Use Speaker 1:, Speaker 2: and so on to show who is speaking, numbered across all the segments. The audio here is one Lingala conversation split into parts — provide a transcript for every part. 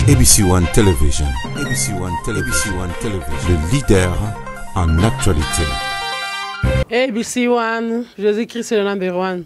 Speaker 1: ABC One Television. ABC One Television. ABC One Television. Le leader en actualité. ABC
Speaker 2: One, Jésus-Christ le number one.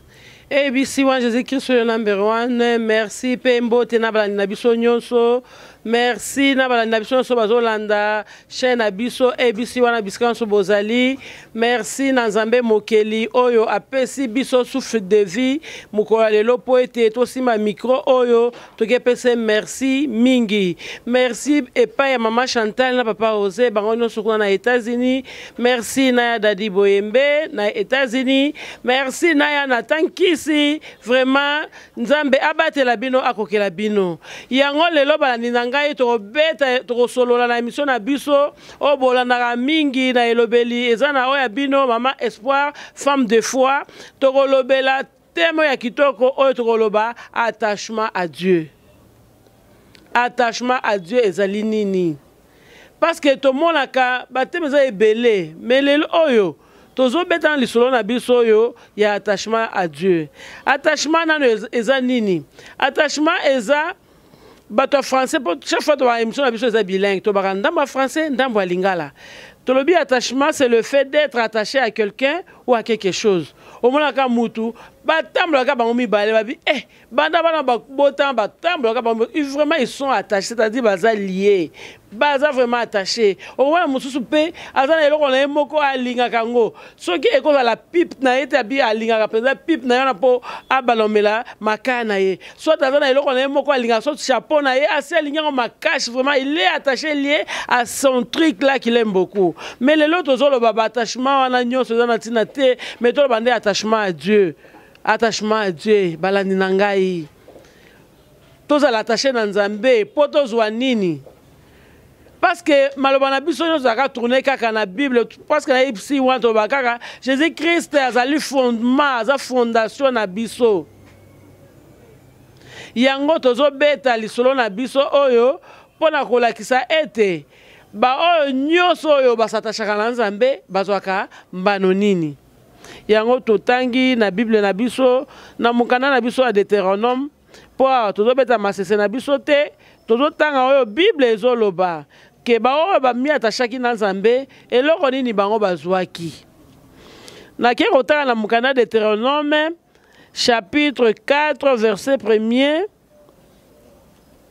Speaker 2: ABC One, Jésus-Christ le number one. Merci pe mbote na balandi na biso nyonso. Merci na balandi na biso nyonso bazolanda chaîne na biso ABC One na bisika nyonso bozali. Merci na Nzambe mokeli oyo apesi biso souffle de vie mokolo ya lelo mpo ete tosimba micro oyo toki epese merci mingi merci epai ya mama chantal na papa ose bango nyonso kuna na états-unis merci na ya dadi boyembe na états-unis merci na ya natan kisi vraiment nzambe abatela bino akokela bino yango lelo balandi na ngai tokobeta tokosolola na emission na biso oyo bolandaka mingi na elobeli eza na oyo ya bino mama espoir femme de foi tokolobela Temo ya kitoko oyo tokoloba attachement à Dieu. Attachement à Dieu ezali nini? Parce que tomonaka bateme eza ebele, mais lelo oyo tozobeta na lisolo na biso oyo ya attachement à Dieu. Attachement nano eza nini? Attachement eza bato ya français mpo chaque fois tobaka émission na biso eza bilingue tobaka ndambo ya français ndambo ya lingala tolobi attachement c'est le fait d'être attaché à quelqu'un ou à quelque chose omonaka mutu batambolaka bango mibale babi eh banda bana babotama batambolaka bango vraiment ils sont attachés c'est-à-dire baza lie baza vraiment attache owana mosusu mpe aza na eloko na ye moko alingaka yango soki ekozala pipe na ye te abi alingaka mpenza pipe na ye wana mpo abanda omela makaya na ye soit aza na eloko na ye moko alingaka soit chapeau na ye asi alingi yango makashe vraiment il est attaché lié à son truc là qu'il aime beaucoup mais lelo tozoloba baattachement wana nyonso eza na ntina te mais toloba nde attachement à dieu attachement à dieu balandi na ngai tozala attache na nzambe mpo tozwa nini parceke maloba na biso nyonso ezalaka tourne kaka na bible parceke na epsi wana toloba kaka jésus christ azali fondement aza fondation na biso yango tozobeta lisolo na biso oyo mpo na kolakisa ete baoyo nyonso oyo basatashaka na nzambe bazwaka mbano nini yango totangi na bible na biso na mokanda na biso ya deuteronome mpo awa tozobeta masese na biso te tozotanga oyo bible ezoloba ke baoyo bamiatashaki na nzambe eloko nini bango bazwaki nakei kotala na mokanda deuteronome chapitre 4 verset 1er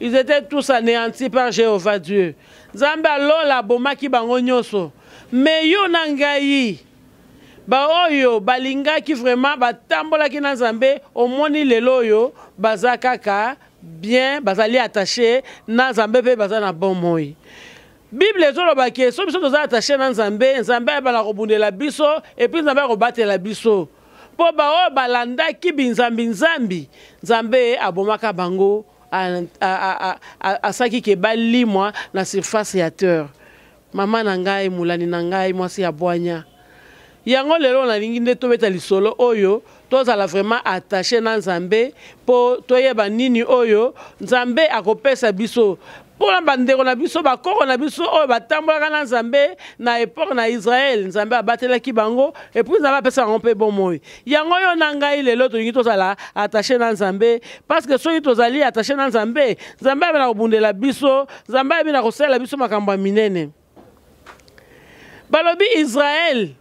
Speaker 2: Ils étaient tous anéantis par Jéhovah Dieu. Nzambe ya lola abomaki bango nyonso. Mais yo na ngai, baoyo balingaki vraiment batambolaki na Nzambe, omoni lelo oyo baza kaka bien, bazali attaché na Nzambe mpe baza na bon moi. Bible ezoloba ke so biso toza attaché na Nzambe, Nzambe ayebana kobundela biso et puis Nzambe akobatela biso. mpo baoyo balandaki binzambinzambi nzambe abomaka bango asalaki ke balimwa na surface ya terre mama na ngai molani na ngai mwasi ya bwanya yango lelo nalingi nde tobeta lisolo oyo tozala vraiment attache na nzambe mpo toyeba nini oyo nzambe akopesa biso mpo na bandeko na biso bakoko na biso oyo batambolaka na nzambe na epoke na israele nzambe abatelaki bango epui nzambe apesa bango mpe bomoi yango oyo na ngai lelo tolingi tozala attache na nzambe parceke soki tozali attache na nzambe nzambe ayebi na kobundela biso nzambe ayebi na kosalela biso makambo ya minene balobi israel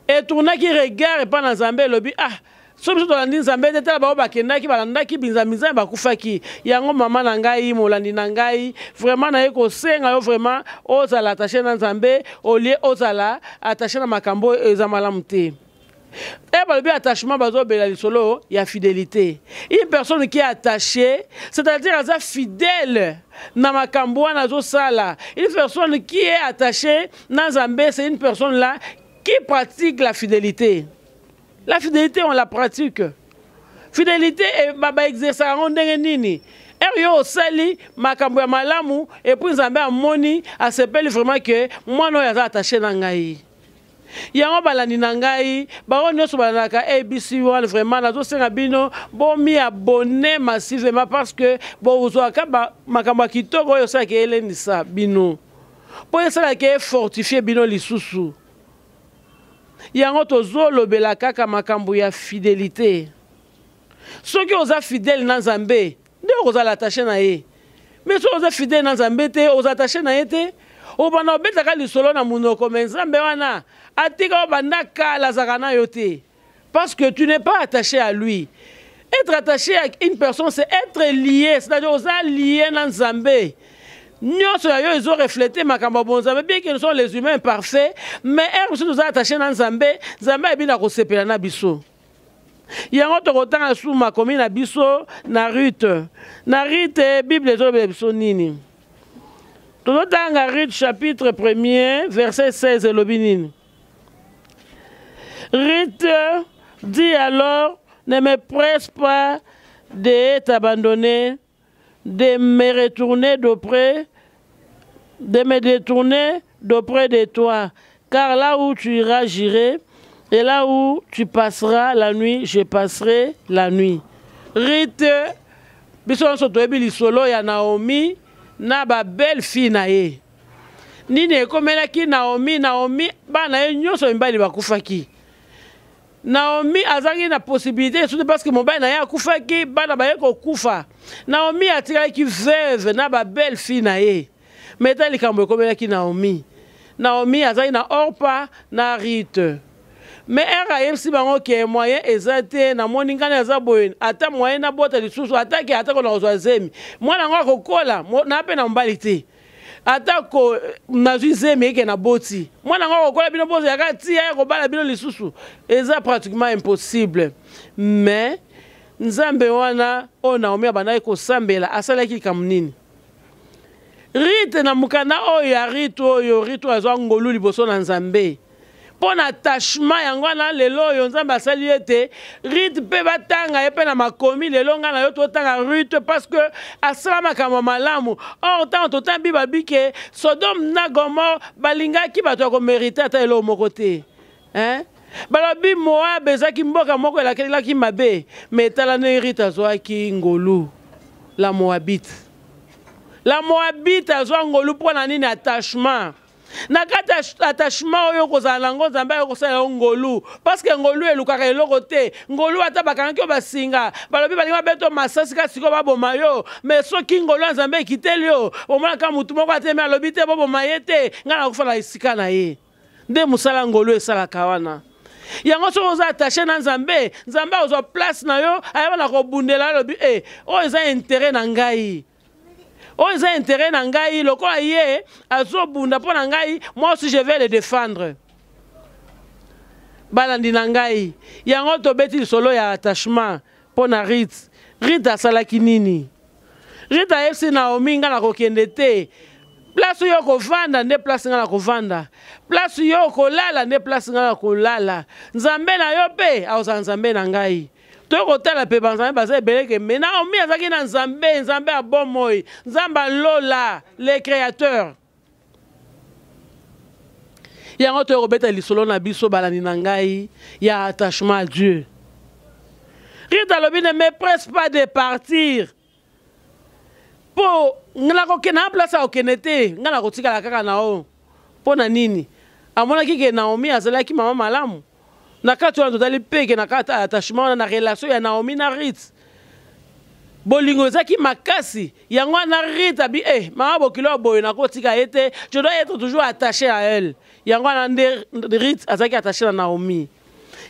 Speaker 2: etournaki regard epai na nzambe elobi ah so biso tolandi nzambe te tala bango bakendaki balandaki binzambinzambe bakufaki yango mama na ngai molandi na ngai vraimen naye kosenga yo vraimen ozala attache na nzambe olie ozala attache na makambo oyo eza malamu te Eh, balobi attachement bazobela lisolo ya fidelité une personne qui est attachée c'est-à-dire aza fidèle na makambo wana azosala une personne qui est attachée na nzambe c'est une personne là qui pratique la fidélité la fidélité on la pratique fidélité eh, baexersa yango ndenge nini ere yo osali makambo ya malamu epuis nzambe amoni asepeli vraiment ke mwana oyo aza attache na ngai yango balandi na ngai baoyo nyonso balandaka abc one vraiment nazosenga bino bomi abonne massivement parce que bozwaka makambo ya kitoko oyo esalaka elendisa bino mpo esalaka efortifie bino lisusu yango tozolobela kaka makambo ya fidelité soki oza fidèle na nzambe nde okozala attache na ye mais soki oza fidèle na nzambe te oza attache na ye te obanda obetaka lisolo na monoko mais nzambe wana atika obanda kala azaka na yo te parce que tu n'es pas attaché à lui être attaché à une personne c'est être lié c'est-à-dire oza lié na nzambe nyonso ya yo ezo reflete makambo ya bonzambe bien que nous sommes les humains parfaits mais heure mosusu toza attaché na nzambe nzambe ayebi na kosepela na biso yango tokotanga lisusu makomi na biso na rute na rite bible ezolobela biso nini tozotanga rute chapitre 1er verset 16 elobi nini rite dit alors ne me presse pas de t'abandonner de me retourner d'auprès, de me détourner d'auprès de toi, car là où tu iras, j'irai, et là où tu passeras la nuit, je passerai la nuit. Rite, biso nyonso toyebi lisolo ya Naomi na ba belle fille na ye. Nini ekomelaki Naomi? Naomi bana ye nyonso mibali bakufaki. Naomi azalaki na possibilité esusu te parce que mobali na ye akufaki bana baye kokufa Naomi atikalaki veuve na ba belle fille na ye mais ta likambo ekomelaki Naomi Naomi azalaki na Orpa na Rite mais ere ayebisi bango ke moyen eza te namoni ngai aza boye ata moyen nabota lisusu ata ke ata kona kozwa zemi mwana yango akokola na mpe na mobali te atako nazwi zemi eke na boti mwana yango akokola bino bozalaka tia ya kobala bino lisusu eza pratiquement impossible mais nzambe wana oyo naomi abandaki kosambela asalaki likambo nini rite na mokanda oyo ya rite oyo rite oyo azwa ngolu liboso na nzambe mpo na attachement yango wana lelo oyo nzambe asali ete rite mpe batanga ye mpe na makomi lelo ngai na yo totanga rite parce que asala makambo ya malamu or ntango totanga biba bike sodome na gomor balingaki bato ya komerite ata eloko moko te hein? balobi moabe ezalaki mboka moko elakelaki mabe me etala ndenge rite azwaki ngolu la moabite la moabite azwa ngolu mpo na nini attachement na kati ya attachement oyo okozala nango nzambe ayo kosala yo ngolu parceke ngolu elukaka eloko te ngolu ata bakangaki yo basinga balobi balingi babeto masasi kaka sikoyo baboma yo me soki ngolu ya nzambe ekiteli yo omonaka motu moko atemi alobi te boboma ye te ngai nakofa na esika na ye nde mosala ngolu esalaka wana yango soki oza attache na nzambe nzambe akozwa place na yo ayeba na kobundela alobi e oyo eza intere na ngai oyo eza intérêt na ngai lokola ye azobunda mpo na ngai moi aussi je vais le défendre balandi na ngai yango tobeti lisolo ya attachement mpo na rite rite asalaki nini rite ayebisi naomi ngai nakokende te place oyo okovanda nde place ngai nakovanda place oyo okolala nde place ngai nakolala nzambe na yo mpe akozala nzambe na ngai toye kotala mpe banzambe baza ebele ke me naomi azalaki na nzambe nzambe ya bomoi nzambe ya lola le créateur yango toye kobeta lisolo na biso balandi na ngai ya attachement à dieu rite alobi ne me presse pas de partir mpo nakokende na place akokende te ngai nakotikala kaka na oyo mpo na nini amonaki ke naomi azalaki mama malamu na kati wana totali mpe ke na kati attachement wana na relation ya naomi na rite bolingo ezalaki makasi yango wana rite abi e eh, mama bokilo ya boye nakotika ye te je dois être toujours attaché à elle yango wana nde rite azalaki attaché na naomi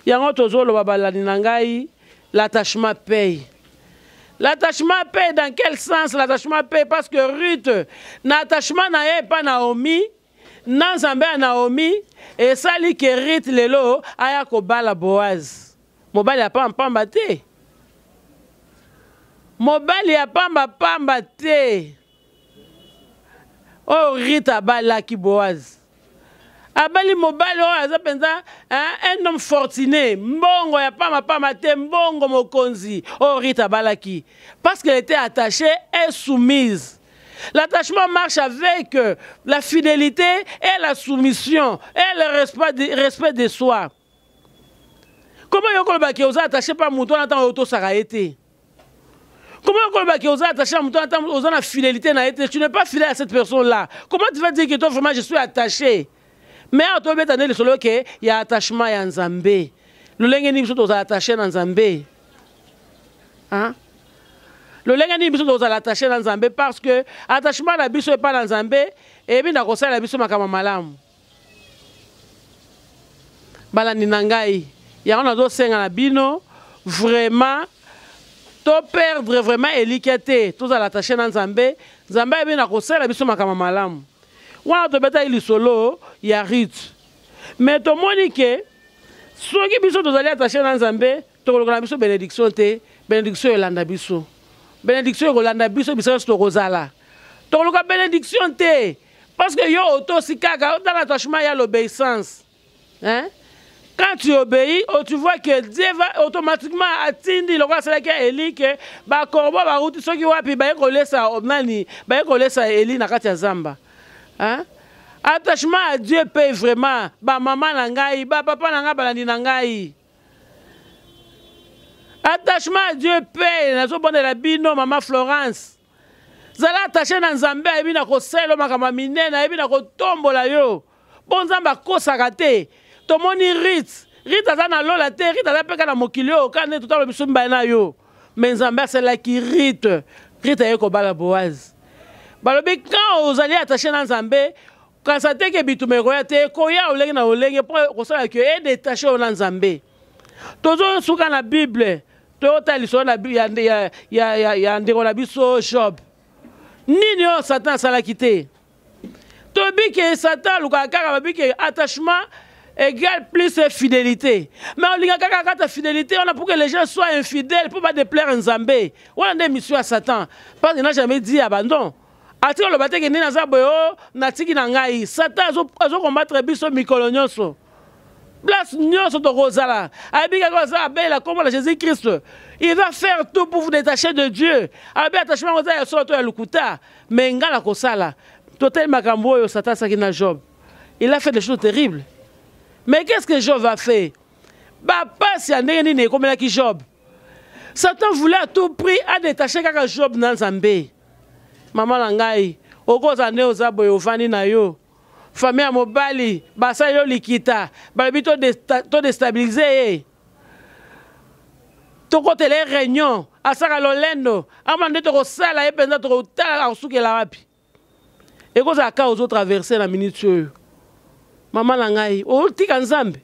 Speaker 2: yango tozoloba balandi na ngai L'attachement paye. L'attachement paye dans quel sens l'attachement paye parce que Ruth na attachement na ye epa Naomi na nzambe ya Naomi esali ke Ruth lelo aya kobala Boaz mobali ya pamba pamba te mobali ya pamba pamba te oyo oh, rita abalaki boaz abali mobali oyo aza mpenza un homme fortuné mbongo ya pama pama te mbongo mokonzi oyo oh, rita abalaki parce qu'elle était attachée et soumise L'attachement marche avec euh, la fidélité et la soumission et le respect de, respect de soi. koma yo koloba ke oza attaché pa moto wana ntango otosaka ye te Comment on va dire aux attachés en temps aux en fidélité n'a été tu n'es pas fidèle à cette personne là. Comment tu vas dire que toi vraiment je suis attaché Mais à toi beta le solo que il y a attachement ya Nzambe. Le lengue ni biso tozala attaché na Nzambe. Hein Le lengue ni biso tozala attaché na Nzambe parce que attachement na biso epa na Nzambe et bien na kosala biso makama malamu. balandi na ngai yango nazosenga na bino vraiment to perdre vraiment elikya te tozala attache na nzambe nzambe ayebi na kosala biso makambo malamu wana tobetaki lisolo ya rite me tomoni ke soki biso tozali attache na nzambe tokoloka na biso benediction te benediction elanda biso benediction ekolanda biso biso nyonso tokozala tokoluka benediction te Parce que yo otosi kaka otala attachement ya l'obéissance. Hein? Quand tu obéis, oh, tu vois que Dieu va automatiquement atindi lokola asalaki ya Eli ke bakorbo bauti soki wapi baye kolesa oh, nani baye kolesa Eli na kati ya zamba. Hein? Attachement à Dieu paye vraiment ba maman na ngai, ba papa na ngai balandi na ngai. Attachement à Dieu paye nazobondela bino maman Florence. zala attache na nzambe ayebi na kosala yo makambo ya minene ayebi na kotombola yo mpo nzambe akosaka te tomoni rit rit aza na lola te rit aza mpe kaka na mokili oyo kaka nde totala biso mibale na yo me nzambe asalaki rit rit aye kobala boaze balobi kan ozali attache na nzambe kanisa te ke bituma ekoya te ekoya olenge na olenge mpo kosala ke edetache oyo na nzambe tozo suka na bible toyota lisolo na ya, ya, ya, ya, ya ndeko na biso job nini oyo satan asalaki te tobike satan alukaka kaka babike attachement égale plus fidélité mais olinga kaka kata fidélité wana pour que les gens soient infidèles mpo badeplaire nzambe wana nde mission ya satan parce que na jamais dit abandon atika aloba te kende naza boye o oh, natiki na ngai satan azokombatre biso mikolo nyonso place nyonso tokozala ayebi kaka aza abelela nkombo na jésus christ il va faire tout pour vous détacher de dieu ayebi attachement yango eza ya solo to ya lokuta mais ngai nakosala totali makambo oyo satan asaki na job il a fait des choses terribles mais qu'est ce que job a fait bapasi ya ndenge nini ekomelaki job satan voulait à tout prix adétache kaka job na nzambe Maman na ngai, okoza nde oza boye ovandi na yo. Famille ya mobali basali yo likita, balobi to to destabiliser ye. Tokotela ye réunion, asaka lolendo, ama nde tokosala ye mpenza tokotala akosukela wapi. Ekozala ka ozo traverser na minute oyo. Maman na ngai, otika Nzambe.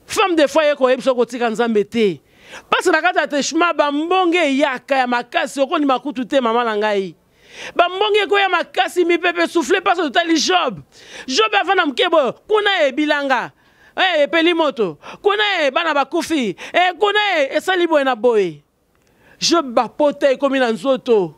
Speaker 2: femme de foyer koyebisa okotika nzambe te mpasi na kati ya teshma bambonge eyaka ya makasi okondima kutu te mama na ngai bambonge ekoya makasi mipepe souffle mpasi totali job job avanda moke boyo kuna ye bilanga hey, eh, epeli moto kuna ye eh, bana bakufi hey, eh, kuna ye esali boye na boye job bapota ekomi na nzoto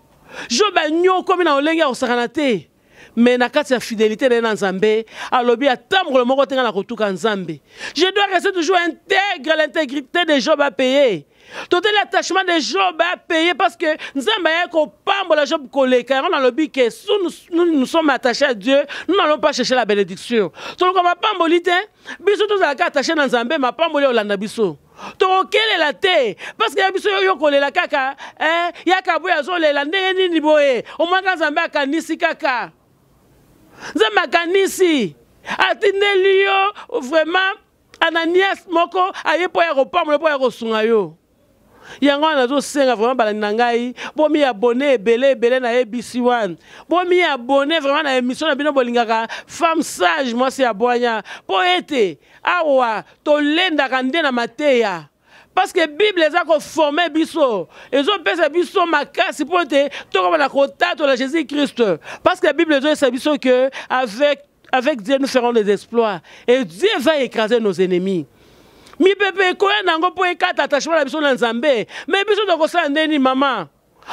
Speaker 2: job anyokomi na lolenge ya kosakana te mais na kati ya fidelité na ye na nzambe alobi ata mokolo moko te ngai nakotuka nzambe je dois rester toujours intègre l'intégrité de job apaye totali attachement de job apaye parce que nzambe ayaki kopambola job koleka yango nalobi ke su nous sommes attaché à dieu nous n'allons pas chercher la bénédiction toluka mapamboli te biso tozalaka attaché na nzambe mapamboli olanda biso tokokelela te parceke ya biso yo kolela kaka eh, yaka boye azolela ndenge nini boye omwaka nzambe akanisi kaka nzambe akanisi atindeli yo vraiment ananias moko aye mpo ya kopambola mpo ya kosunga yo yango wana nazosenga vraiment balandi na ngai bomi abone ebele ebele na abc one bomi abone vraiment na émission na bino bolingaka femme sage mwasi ya bwanya mpo ete awa Tolendaka nde na mateya parce que bible eza koforme biso ezopesa biso makasi mpo ete tokoma na kotatola jésus christ parce que bible ezoyesa biso que avec, avec dieu nous ferons des exploits et dieu va écraser nos ennemis mipepe ekoya na yango mpo ekata attachement na biso na nzambe me biso tokosala nde nini mama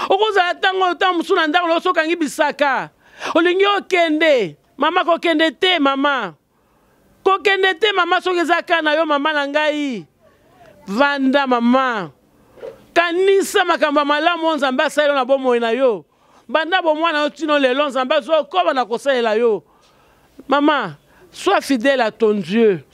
Speaker 2: okozala ntango oyo ntango mosusu na ndako na oso okangi bisaka olingi okende mama kokende te mama kokende te mama soki eza kaka na yo mama na ngai vanda mama kanisa makambo ya malamu oyo nzambe asali yo na bomoi na yo banda bomwana yo tino lelo nzambe azokoba na kosalela yo mama sois fidèle à ton dieu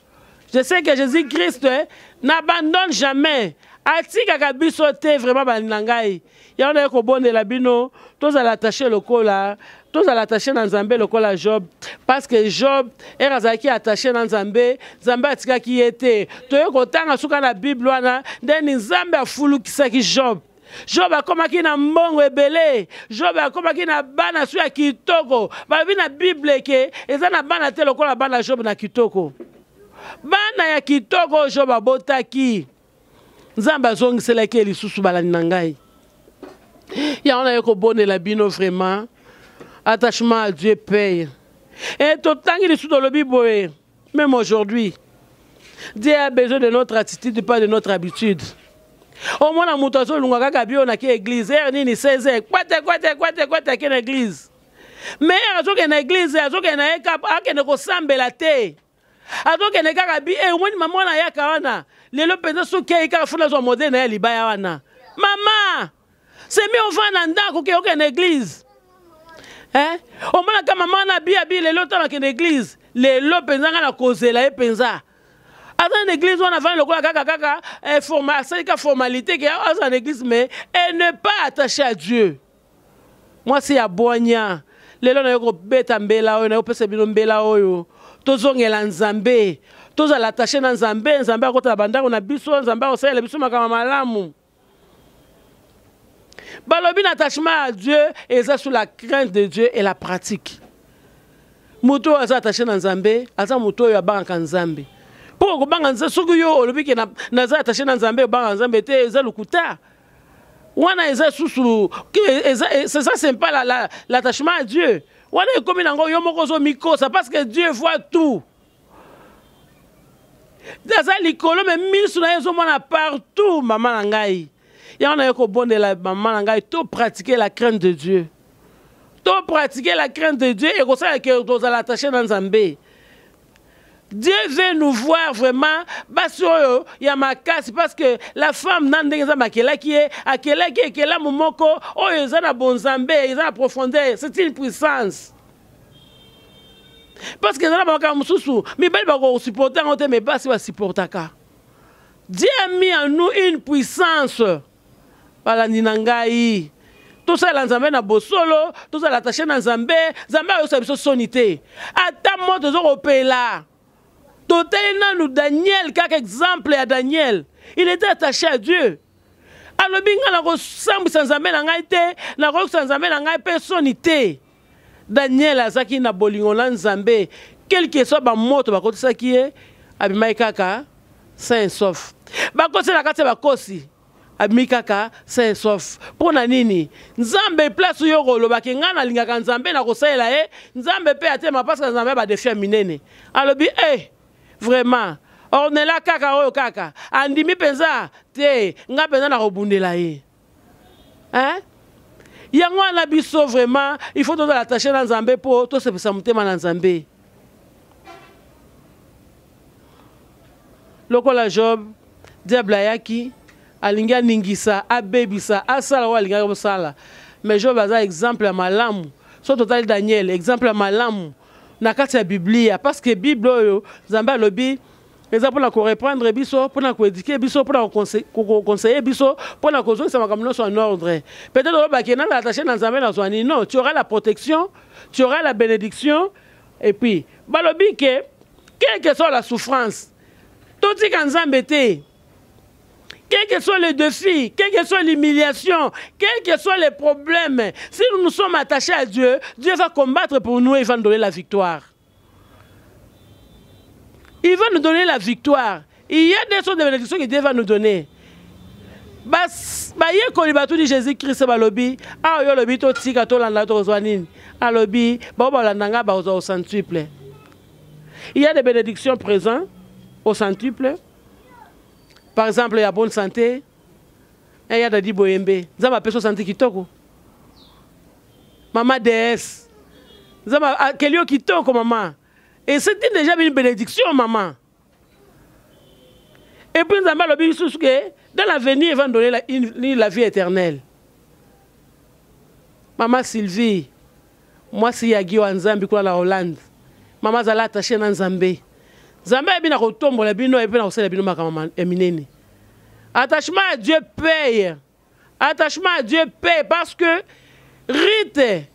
Speaker 2: je sais que jésus christ eh, n'abandonne jamais atikaka biso te vraiment balinga ngai yango naye kobondela bino tozala attache lokola tozala attache na nzambe lokola job parce que job ere azalaki attache na nzambe nzambe atikaki ye te toye kotanga suka na bible wana ndeni nzambe afulukisaki job job akomaki na mbongo ebele job akomaki na bana so ya kitoko balobi na bible eke eza na bana te lokola bana job na kitoko bana ya kitoko oyo job abotaki nzambe azongiselaki ye lisusu balandi na ngai yango naye kobonela bino vraiment attachement à dieu paye e totangi lisusu tolobi boye même aujourd'hui dieu a besoin de notre attitude pas de notre habitude omona moto azolunga kaka bio nake église ere nini 16 heure kwete kwete kwete kwete ake na église mais ere azokende na église azokende na ye kap akende kosambela te azokende kaka bi e omoni mama wana ayaka wana lelo mpenza soki ayi kaka funa azwa modele na ye ya libaya wana mama semi ovanda ndako ke okende eglize eh? omonaka mama wana abi abi lelo ntango akende eglize lelo mpenza ngai nakozela ye mpenza aza na église wana avandi lokola kaka kaka eh, asalika formalité ke aza na église mais elle ne pas attaché à dieu Mwasi ya bwanya, lelo nayo kobeta mbela oyo, nayo pesa bino mbela oyo. Tozongela Nzambe, tozala attache na Nzambe, Nzambe akotala bandako na biso, Nzambe akosalela biso makambo malamu. balobi na attachement ya dieu eza sur la crainte de dieu et la pratique moto oyo aza attaché na nzambe aza moto oyo abangaka nzambe mpo okobanga nzambe soki yo olobi ke naza attaché na nzambe obangaka nzambe te eza lokuta wana eza susu c'est ça c'est pas la, la, l'attachement à Dieu wana ekomi nango yo moko zo mikosa parce que Dieu voit tout aza likolo me miso na ye ezomona partout mama na ngai yango naye kobondela mama na ngai to pratique la crainte de dieu to pratique la crainte de dieu ekosala ke tozala attache na nzambe Dieu veut nous voir vraiment basi oyo ya makasi parce que la femme na ndenge nzambe akelaki ye akelaki ekelamu moko oyo eza na bonzambe eza na profondeur c'est une puissance parce que eza na bamakambo mosusu mibali bakosupporte yango te mais basi basupportaka dieu a mis en nous une puissance balandi na ngai tosalela nzambe na bosolo tozala atashe na nzambe nzambe ayosa biso soni te ata mo toza kopela totali nanu daniel kaka exemple ya daniel il était attaché à dieu alobi ngai nakosambwisa nzambe na ngai te nakoyokisa nzambe na ngai mpe soni te Daniel azaki na bolingo na Nzambe, quelque soit ba moto bakotisaki ye, abimaki kaka sain et sauf. Bakosi na kati ya bakosi, abimi kaka sain et sauf. Mpo na nini? Nzambe place yo koloba ke ngai nalingaka Nzambe na kosalela ye, Nzambe mpe atema parce que Nzambe ba defi ya minene. Alobi eh vraiment Ornella kaka oyo kaka andimi mpenza te ngai mpenza nakobundela ye. hein? yango wana biso vraiment il faut tozala attache na nzambe mpo tosepesa motema na nzambe lokola job diable ayaki alingi aningisa abebisa asala oyo alingaki kosala mais job aza exemple ya malamu so totali daniel exemple ya malamu na kati ya biblia parce que bible oyo nzambe alobi eza mpo na koreprendre biso mpo na koedike biso mpo na kokonseye biso mpo na kozongisa makambo nyonso en ordre peut-être olobaki na attache na nzambe nazwa nini non tu auras la protection tu auras la bénédiction et puis balobi ke quelque soit la souffrance totika nzambe te quel que soit le défi, quelle que soit l'humiliation, quel que soit les problèmes, si nous nous sommes attachés à Dieu, Dieu va combattre pour nous et va nous donner la victoire. il va nous donner la victoire il y a des choses de bénédiction que Dieu va nous donner bayekoli batuni jésus krist balobi awa yo olobi totika tolanda tokozwa nini alobi bango balanda ngai bakozwa au centuple il y a des bénédictions présent au centuple par exemple ya bonne santé eya dadi boyembe nzambe apesi osanti kitoko Maman déesse. Zama ah, kelio kitoko maman. Et c'était déjà une bénédiction maman. Et puis Zama lobi sous que dans l'avenir il va nous donner la, une, la vie éternelle. Maman Sylvie, moi si yagi wa Nzambi kwa la Hollande. Maman zala attachée na Nzambe. Nzambe abi na kotombola bino et puis na kosala bino makambo ya minene. Attachement à Dieu paye. attachement à dieu pe parce que rite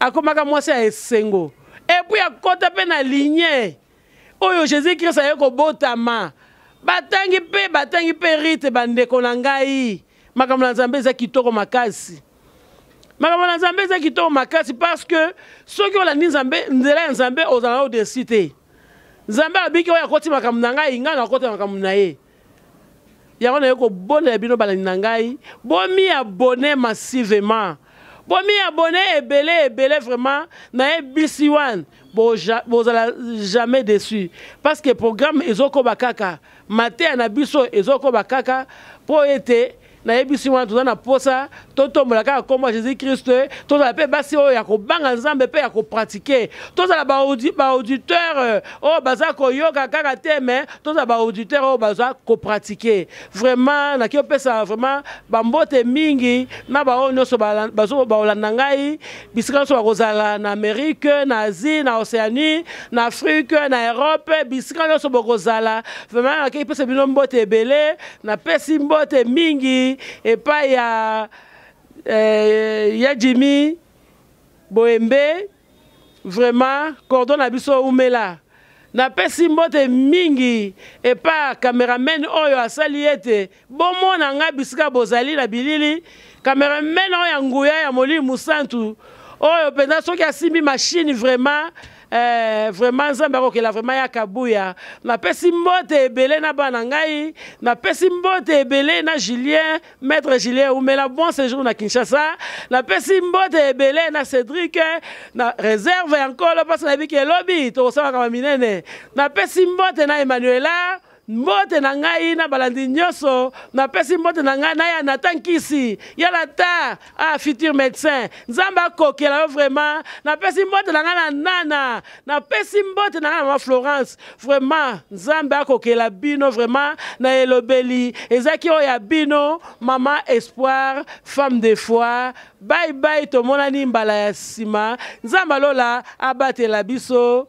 Speaker 2: akomaka mwasi ya esengo epuis akota mpe na ligne oyo jésus krist aye kobotama batangi mpe batangi mpe rite bandeko na ngai makambo na nzambe eza kitoko makasi makambo na nzambe eza kitoko makasi parce que soki olandi nzambe nzela ya nzambe ozala na odesi te nzambe abiki oyo akoti makambo na ngai ngai nakota makambo na ye yango naye kobolela bino balandi na ngai bomi abone massivement bomi abone ebele ebele vraiment naye bisi wan bozala jamais dessus parce que programme ezokoba kaka mateya na biso ezokoba kaka mpo ete nayebisi wana toza na posa totombola kaka nkombo ya jésus christ tozala mpe basi oyo ya kobanga nzambe mpe ya kopratike tozala baauditeur euh, oyo baza koyoka kaka te me tozala baauditeur oyo baza kopratike vraiment naki opesa vraiment bambote mingi na baoyo nyonso baolanda ngai bisika nyonso bakozala na amérique na asie na océanie na afrique na europe bisika nyonso bokozala vraiment naki epesa bino mbote ebele napesi mbote mingi epai ya eh, ya jimi boyembe vraiment cordon na biso umela napesi mbote mingi epa cameraman oyo asali ete bomona ngai bisika bozali na bilili cameraman oyo ya nguya ya molimo mosantu oyo mpenza soki asimbi mashine vraiment Eh, vraiment nzambe akokela vraiment ya kabuya napesi mbote ebele na bana ngai napesi mbote ebele na julien maître julien umela bon séjour na kinshasa napesi mbote ebele na cédrik na réserve ya nkolo mpasi nayebi ke elobi tokosalaka maminene napesi mbote na emmanuela Mbote na ngai na balandi nyonso, napesi mbote na ngai na ya Nathan Nkisi, ya Nathan, ah futur médecin. Nzambe akokela yo vraiment. Napesi mbote na ngai na Nana, napesi mbote na ngai na mama Florence. Vraiment, Nzambe akokela bino vraiment na elobeli ezaki oyo ya bino mama Espoir, femme de foi. Bye bye, tomonani mbala ya sima. Nzambe alola abatela biso.